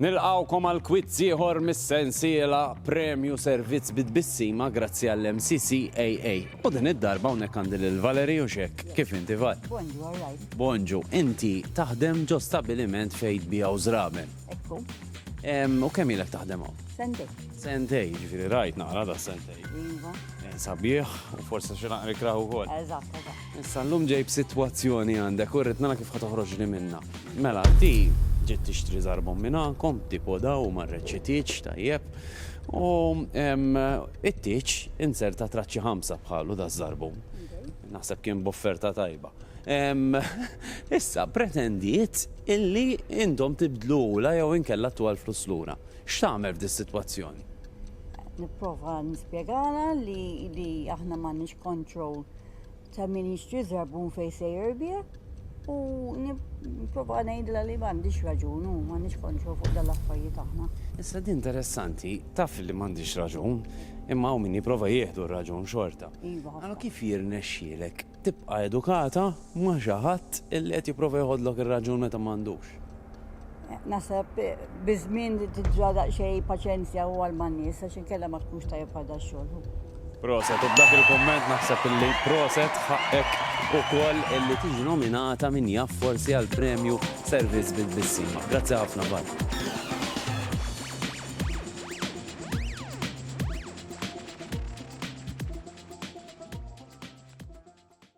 Nilqgħukom għal kwizz ieħor mis-sensiela Premju Servizz bi Tbissima grazzi għall-MCCAA. U din id-darba hawnhekk għandi lil Valerie u x'hekk, kif inti Val? Bonġu, all right. Bonġu, inti taħdem ġo stabbiliment fejn tbiegħu żraben. Ekku. Em, U kemm ilek taħdem hawn? Sendej. Sentej, ġifieri rajt naqra da sentej. Iva. Eh, Sabiħ, u forsi xi naqra ikrah ukoll. Eżatt, eżatt. Issa llum ġej b'sitwazzjoni għandek u rrid nara kif ħa toħroġni minnha. Mela, di ġiet tixtri żarbhom minn għandkom, tipo da u marret xi tieġ tajjeb u it-tieġ inzerta traċċi ħamsa bħalu da żarbhom. Naħseb kien b'offerta tajba. Issa pretendiet illi intom tibdlu la jew inkella tu għal flus lura. X'tagħmel f'dis sitwazzjoni? Nipprova nispjegala li aħna m'għandniex kontroll ta' min jixtri żarbun fejn se jirbieh u nipprova ngħidla li m'għandix raġun u m'għandix kontro fuq dan l-affarijiet aħna. Issa din interessanti, taf li m'għandix raġun, imma hawn min jipprova jieħdu r-raġun xorta. Iva. Allora kif jirnexxielek tibqa' edukata ma' xi ħadd li qed jipprova jieħodlok ir-raġun meta m'għandux? Naħseb biż-żmien li tiġra daqsxejn paċenzja u għal man-nies għax inkella ma tkunx tajjeb għal dax-xogħol. Proset, u b'dak il-kumment naħseb illi proset ħaqqek ukoll illi tiġi nominata min jaf forsi għal premju Servizz bi Tbissima. Grazzi ħafna Bart.